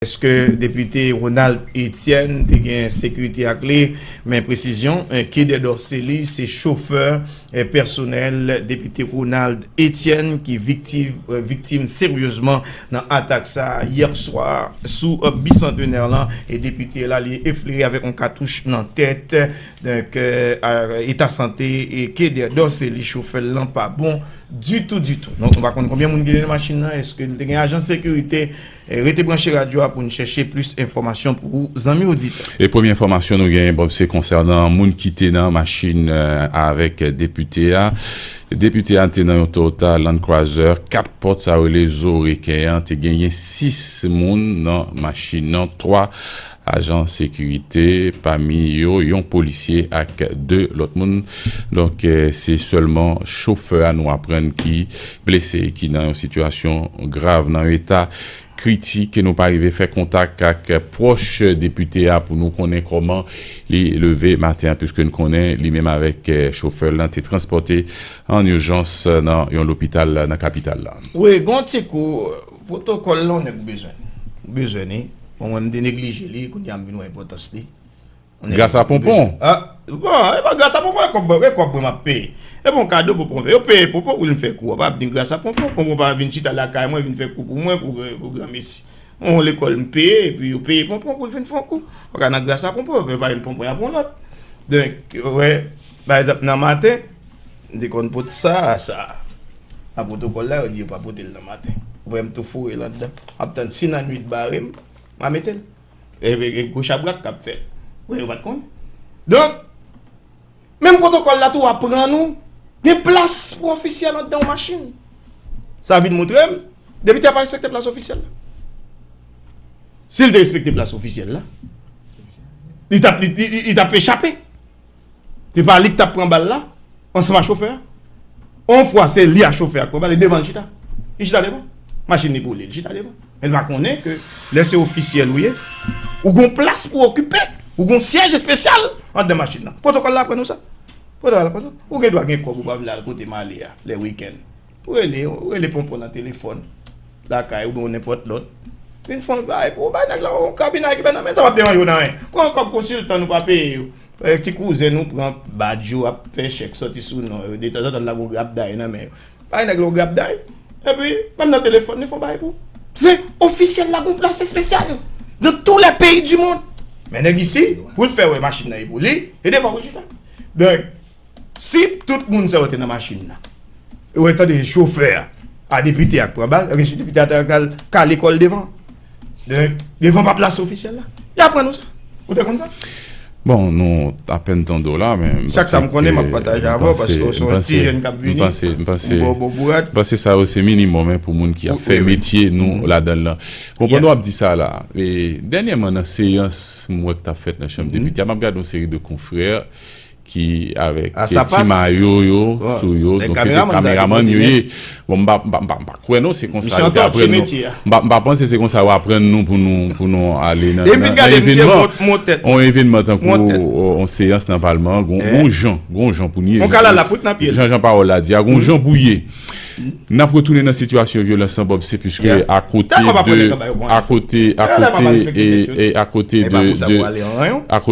Eske depite Ronald Etienne te gen sekirite ak li? Men presizyon ke Dedor Cély se chofè pèsonèl depite Ronald Etienne ki viktim seryezman nan atak sa a yè swa sou Bicentenaire lan e depite la li eflire avèk yon katouch nan tèt. Donk eta sante ke Dedor Cély chofè l lan pa bon ditou ditou. Nou pa konn konbyen moun ki te nan machin nan, eske li te gen ajan sekirite? Rete branche radyo a pou n chèche plis enfòmasyon pou ou zanmi oditè. E premye enfòmasyon nou genyen Bob se konsènan moun ki te nan machin avèk depite a. Depite a te nan yon Toyota Land Cruiser 4 pòt sa yo rele zo reken an te genyen 6 moun nan machin nan 3 ajan sekirite, pami yo yon polisye ak 2 lòt moun. Donk, se sèlman chofè a nou aprann ki blese e ki nan yon sitiyasyon grav, nan yon eta kritik. Nou pa rive fè kontak ak pwòch depite a pou nou konnen kòman li leve maten an, puiske n konnen li menm avèk chofè l lan te transpòte an ijans nan yon lopital nan kapital la. Wi, gen yon ti kou. Protocol lan nèg ou bezwen. Ou bezwen li. Bon mwen m te neglije li kounya m vin wè enpotans li. Gras a ponpon. Ah bon e pa gras a ponpon e kob e kob mwen map peye. E bon kado ponpon yo peye ponpon pou l vin fè kou a pa vin gras a ponpon. Ponpon pa vin chita lakay mwen vin fè kou pou mwen pou granmesi. Mwen on lekol m peye epi yo peye ponpon pou l vin fon kou. Paka nan gras a ponpon yo pa yon ponpon y ap yon lot. Donk ou wè pa egzanp nan maten. M te konn pot sa a sa a. A pwotokòl la yo di yo pa pote l nan maten. Ou wè m tou foure l andan. M ap tann si nannuit bare m, m a mete l. Epi gen gwo chabrak k ap fè. Ou wè yo pa t konn. Donk, menm pwotokòl la tou aprann ou gen plas pou ofisyèl andan yon machin. Sa vin montre m depite a pa respekte plas ofisyèl la. Si l te respekte plas ofisyèl la, li t ap echape. Se pa li ki tap pran bal la ansanm a chofè a. On fwa se li a chofè a ki pran bal, li devan li chita. Li chita devan. Machin li boule, li chita devan. Men li pa konnen ke lè se ofisyèl ou ye, ou gon plas pou okipe, ou gon syèj espesyal andan machin nan. Pwotokòl la aprann nou sa. Pwotokòl la aprann nou sa. Ou gen dwa gen kòb ou pa vle al kote m ale a lè wikenn. Ou rele, ou rele ponpon nan telefòn lakay ou oubyen nenpòt lòt. Vin fon bay pou ou bay nèg la yon kabinay ki fè nan men sa wap devan yo nan ren. Pran yon kòb konsiltan nou pa peye yo. E ti kouzen nou pran badj yo ap fè chèk sòti sou non yo. Detanzantan n lage yon grapday nan men yo. Bay nèg la yon grapday. Epi, menm nan telefòn li fon bay pou ou. Vre, ofisyèl la gen yon plas espesyal nan tou lè peyi di mond. Men nèg isi, pou l fè wè machin nan e pou li, e devan ou chita. Donk. Si tout moun sa yo te nan machin nan e yo te tande chofè a depite a k pran bal, ebyen si depite a ta al kale kò l devan devan pa plas ofisyèl la y a pran nou sa. Ou te konn sa? Bon, nou apèn tande w la men m panse ke Chak sa m konnen m ap pataje avè w paske w se yon ti jèn k ap vini m ba w bon bourad. M panse sa yo se minimòm pou moun ki ap fè metye nou ladan l lan. Bon, pandan w ap di sa la dènyèman nan seyans m wè k t ap fèt nan chanm depite a m ap gade yon seri de konfrè ki avèk ti mayo yo sou yo donk se te kameramann yo ye bon m pa kwè non se konsa yo te aprann nou m pa panse se konsa yo aprann nou pou nou ale nan yon evenman tankou yon seyans nan palman an gon jan pou nou ye jan jan pawòl la di a gon jan pou ye N ap retounen nan sitiyasyon vyolans lan Bob se piske akote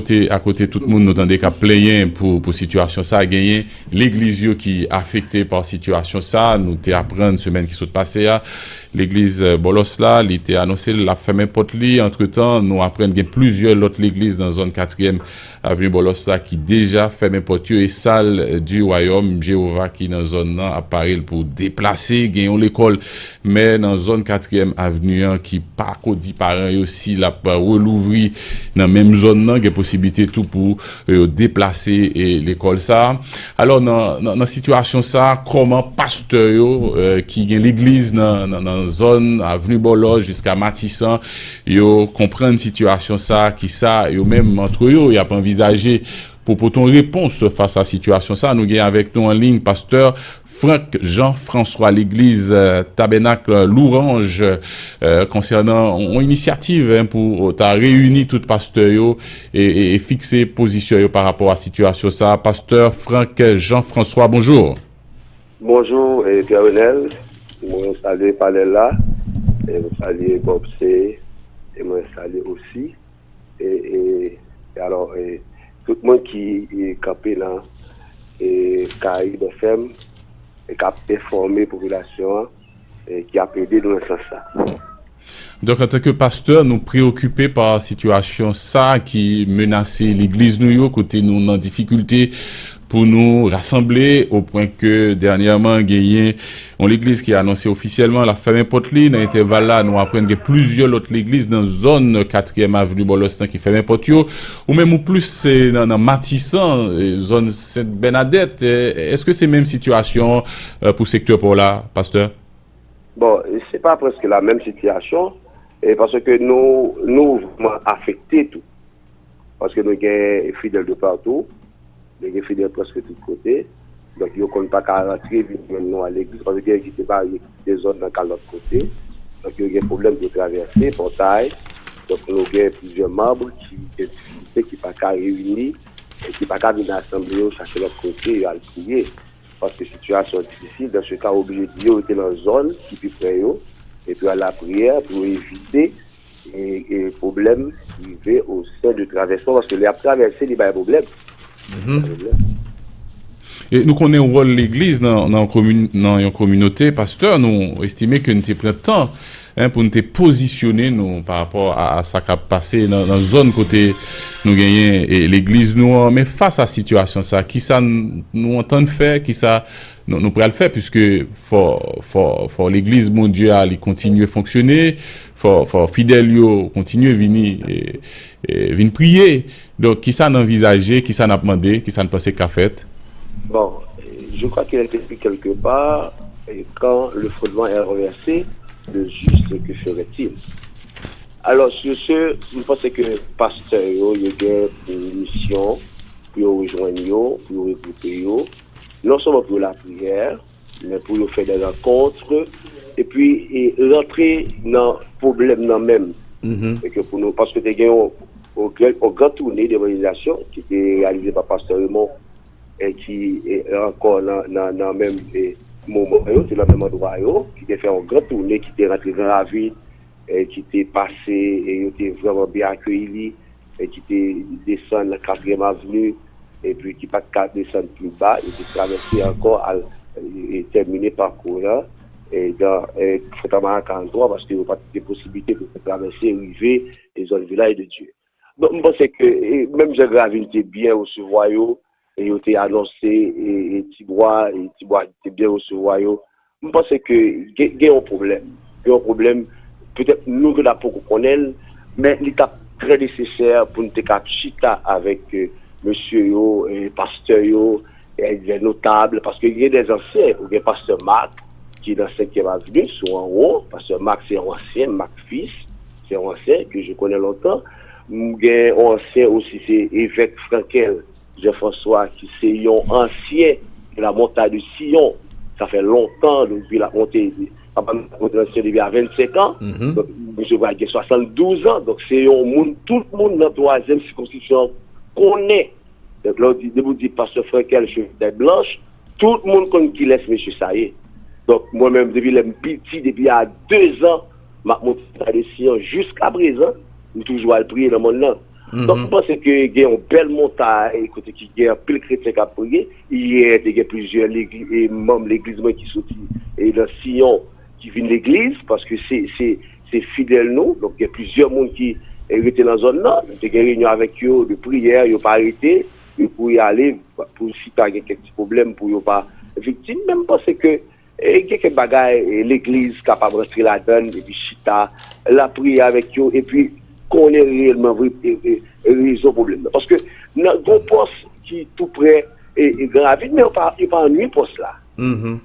de akote tout moun nou tande k ap plenyen pou sitiyasyon sa genyen legliz yo ki afekte pa sitiyasyon sa nou te aprann semèn ki sot pase a legliz Bòlòs la li te anonse l ap fèmen pòt li antretan nou aprann gen plizyè lòt legliz nan zòn katriyèm A vye bòlòs sa ki deja fèmen pòt yo e Sal di Wayòm Jewova ki nan zòn nan ap pare l pou deplase. Gen yon lekòl mè nan zòn Katriyèm Avni an ki pa ko di paran yo si l ap relouvri nan menm zòn nan. Gen posiblite tou pou yo deplase lekòl sa a. Alò, nan sitiyasyon sa a, kòman pastè yo ki gen legliz nan zòn Avni Bòlòs jiska Matisan Yo konprann sitiyasyon sa a ki sa yo menm antre yo y ap anvizaje pou pote yon repons fas a sitiyasyon sa a. Nou gen avèk nou an liy pastè Franck Jean François legliz Tabènakl Louranj konsènan yon inisyativ pou ta reyini tout pastè yo e fikse pozisyon yo pa rapò a sitiyasyon sa a. Pastè Franck Jean François bonjou. Bonjour Pierre Renel mwen salye panel la e m salye Bob se e mwen salye osi e e alò e tout moun ki kanpe nan e Caraïbes FM e kap enfòme popilasyon an. ki ap ede nou nan sans sa a. Donk antanke pastè nou preyokipe pa sitiyasyon sa a ki menase legliz nou yo kote nou nan difikilte pou nou rasanble opwen ke dènyèman genyen yon legliz ki anonse ofisyèlman l ap fèmen pòt li nan entèval la nou aprann gen plizyè lòt legliz nan zòn katriyèm aveni Bòlòs lan ki fèmen pòt yo ou menm ou plis nan matisan zòn sent Bènadèt èske se menm sitiyasyon Pou sektè paw la pastè? Bon se pa preske la menm sitiyasyon e paske nou nou vreman afekte tou paske nou gen fidèl de patou nou gen fidèl preske tout kote donk yo konn pa ka rantre vin jwenn nou a legliz paske gen ki te marye ki kite zòn nan kal lòt kote donk yo gen pwoblèm pou yo travèse pòtay donk nou gen plizyè manb ki gen difikilte ki pa ka reyini e ki pa ka vin asanble yo chache lòt kote yo al priye. Paske sitiyasyon an difisil, dan se ka ou oblije di yo rete lan zòn ki pi pre yo, epi an lapriyè pou yo evite pwoblèm rive o sen de travèsman, paske lè y ap travèse li bay pwoblèm. E nou konnen wòl legliz nan yon kominote, pastè nou estime ke n te pran tan 1 pou n te pozisyone nou pa rapò a sa k ap pase nan zòn kote nou genyen legliz nou an men fas a sitiyasyon sa ki sa nou antann fè ki sa nou pral fè piske fò legliz Bondye a li kontinye fonksyone fò fidèl yo kontinye vini vin priye Donk, ki sa n anvizaje, ki sa n ap mande, ki sa n panse k ka fèt? Bon, je crois qu'il est écrit quelque part, Quand le fondement est renversé, le juste que ferait-il? Alors, sur ce, m panse ke pastè yo, yo gen pou misyon pou yo rejwenn yo, pou yo regwoupe yo, non sèlman pou yo lapriyè, Men pou yo fè des rencontres e pi rantre nan pwoblèm nan menm. E ke pou nou, paske te gen yon yon gran toune d'evanjelizasyon ki te reyalize pa Pastè Raymond e ki ankò nan menm moman yo, se nan menm andwa yo, ki te fè yon gran toune ki te rantre gran ravin, ki te pase e yo te vrèman byen akeyi li, e ki te desann nan Katriyèm Avni, epi ki pa t ka desann pli ba, yo te travèse ankò al tèmine pakou w lan nan Fontamara 43, paske yo pa t gen posiblite pou yo travèse rive zòn Vilaj de Dye. Donk m panse ke menm jan Gravil te byen resevwa yo e yo te anonse Ti Bwa e Ti Bwa te byen resevwa yo, m panse ke gen yon pwoblèm. Gen yon pwoblèm, petèt nou ki la poko konnen l, men li t ap trè nesesè pou n te ka chita avèk mesye yo, pastè yo, lè notab, paske gen de zansyen, ou gen pastè Mak ki nan senkyèm avni sou anwo, pastè Mak se yon ansyen, Mak Fis. Se yon ansyen ke je konnen lontan. M gen yon ansyen osi se Evèk Frankel Jean François ki se yon ansyen de la Montagne de Sion. Sa fè lontan depi l ap monte. Papa m te nan Sion depi a 25 an. Donk misye pral gen 72 an. Donk se yon moun tout moun nan twazyèm sikonskripsyon an konnen. Donk lè w di, depi w di Pastè Frankel cheve tèt blanch, tout moun konn kilès mesye sa ye. Donk mwen menm depi lè m piti, depi a dezan, m ap monte Mata de Siyon. Jiskaprezan, m toujou al priye nan mòn nan. Donk, m panse ke gen yon bèl montay kote ki gen anpil kretyen k ap priye. Yè, te gen plizyè manm legliz mwen ki soti nan Siyon ki vin legliz, paske se fidèl nou. Donk, gen plizyè moun ki rete nan zòn nan. M te gen reyinyon avèk yo de priyè, yo pa rete, yo kouri ale pou si ta gen kèk ti pwoblèm pou yo pa viktim. Men, m panse ke. E gen kèk bagay legliz kapab rantre ladann epi chita lapriyè avèk yo epi konnen reyèlman vre rezon pwoblèm nan. Paske nan gon pòs ki tou prè gran ravin men yo pa yo pa annwi pòs la. Gen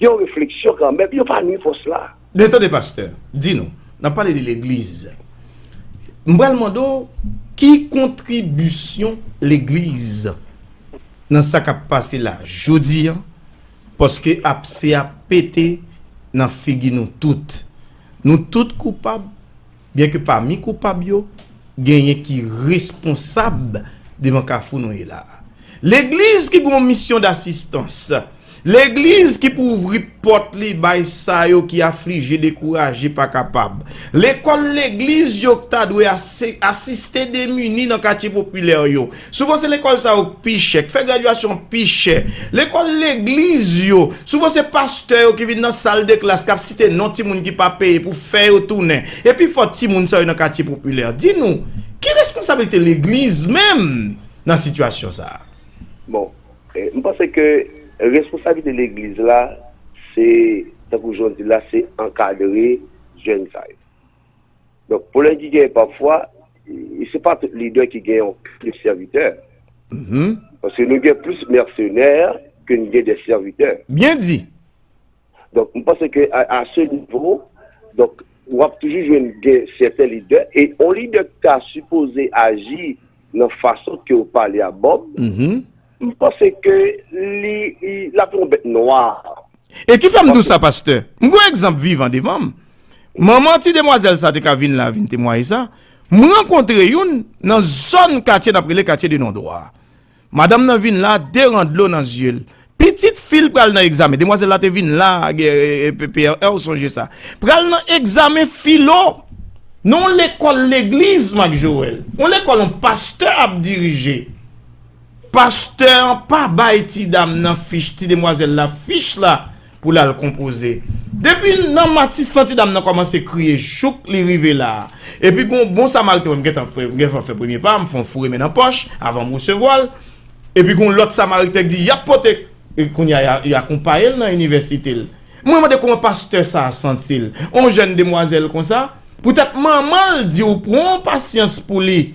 yon refleksyon kanmenm, yo pa annwi pòs la. Men tande pastè, di nou, n'ap pale de legliz. M'pral mande w ki kontribisyon legliz nan sa k'ap pase la jodi an Paske apse a pete nan figi nou tout. Nou tout koupab, byenke pami koupab yo, genyen ki responsab devan kafou nou ye la a. Legliz ki gen yon misyon dasistans, legliz ki pou ouvri pòt li bay sa yo ki aflije, dekouraje, pa kapab, lekòl legliz yo ki ta dwe asiste demini nan katye popilè yo, Souvan se lekòl sa yo k pi chè, k fè gradyasyon an pi chè. Lekòl legliz yo, souvan se pastè yo ki vin nan sal de klas k ap site non timoun ki pa peye pou fè yo tounen. E pi fò timoun sa yo nan katye popilè. Di nou, ki responsablite legliz menm nan sitiyasyon sa a? Bon, m panse ke responsablite legliz la se, tankou jan w di l la, se ankadre jèn sa yo. Donk pwoblèm ki genyen pafwa, se pa tout lidè ki gen yon kèk sèvitè. Paske nou gen plis mèsenè ke n gen de sèvitè. Byen di! Donk m panse ke a se nivo, donk w ap toujou jwenn gen sèten lidè, e yon lidè ki ta sipoze aji nan fason ke ou pale a Bob, m panse ke li lap yon bèt nwa. E ki fè m di w sa pastè, m gen yon egzanp vivan devan m. Manman ti demwazèl sa te ka vin la vin temwaye sa. M rankontre youn nan zòn katye nap rele katye de nondwa. Madanm nan vin la 2 ran dlo nan zye l, Pitit fi l pral nan egzamen. Demwazèl la te vin la PRR ou sonje sa. Pral nan egzamen filo nan yon lekòl legliz Mak Jowèl. Yon lekòl yon pastè ap dirije. Pastè an pa bay ti dam nan fich, ti demwazèl la fich la pou l al konpoze. Depi nan matisan ti dam nan kòmanse kriye jouk li rive la. Epi gen yon bon samariten mwen m gentan fè premye pa a, m fè yon foure men nan pòch avan m resevwa l. Epi gon lòt samariten ki di yap pote e kounye a y akonpaye l nan inivèsite l. Mwen mande kòman pastè sa a santi l. On jèn demwazèl konsa, poutèt manman l di w pran pasyans pou li,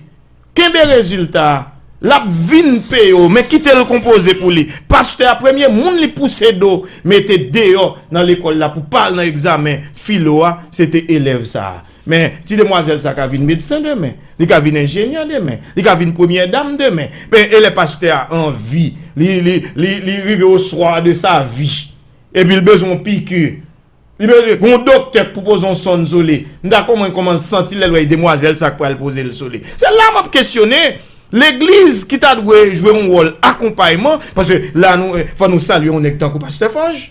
kenbe rezilta a, l ap vin peye w men kite l konpoze pou li. Pastè a premye moun li pouse do mete deyò nan lekòl la pou pa al nan egzamen filo a se te elèv sa a. Men, ti demwazèl sa ka vin medsen demen, li ka vin enjenyè demen, li ka vin premyè dam demen. Men, e lè pastè a anvi, li rive au soir de sa vie, epi li bezwen yon piki, li bezwen yon doktè k pou poze yon sonn sou li, m ta konprann kòman l santi l lè l wè demwazèl sa k pral poze l sou li. Se la m ap kesyone legliz ki ta dwe jwe yon wòl akonpayman, paske la nou, fò nou salye yon nèg tankou pastè Fòj.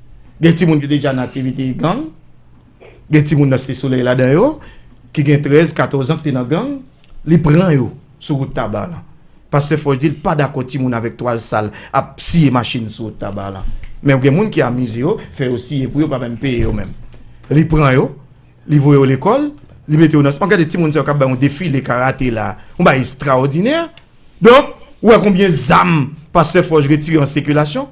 Gen timoun ki deja nan aktivite gang. Gen timoun nan Site Solèy ladan yo ki gen 13, 14 an ki te nan gang. Li pran yo sou wout Taba lan. Pastè Fòj di l pa dakò timoun avèk twal sal ap siye machin sou wout Taba lan. Men gen moun ki amize yo, fè yo siye pou yo pa menm peye yo menm. Li pran yo, li voye yo lekòl, li mete yo nan sipò. Gade timoun sa yo k ap bay yon defile karate la a. Yon bagay estrawòdinè. Donk, ou wè konbyen zam Pastè Fòj retire an sikilasyon.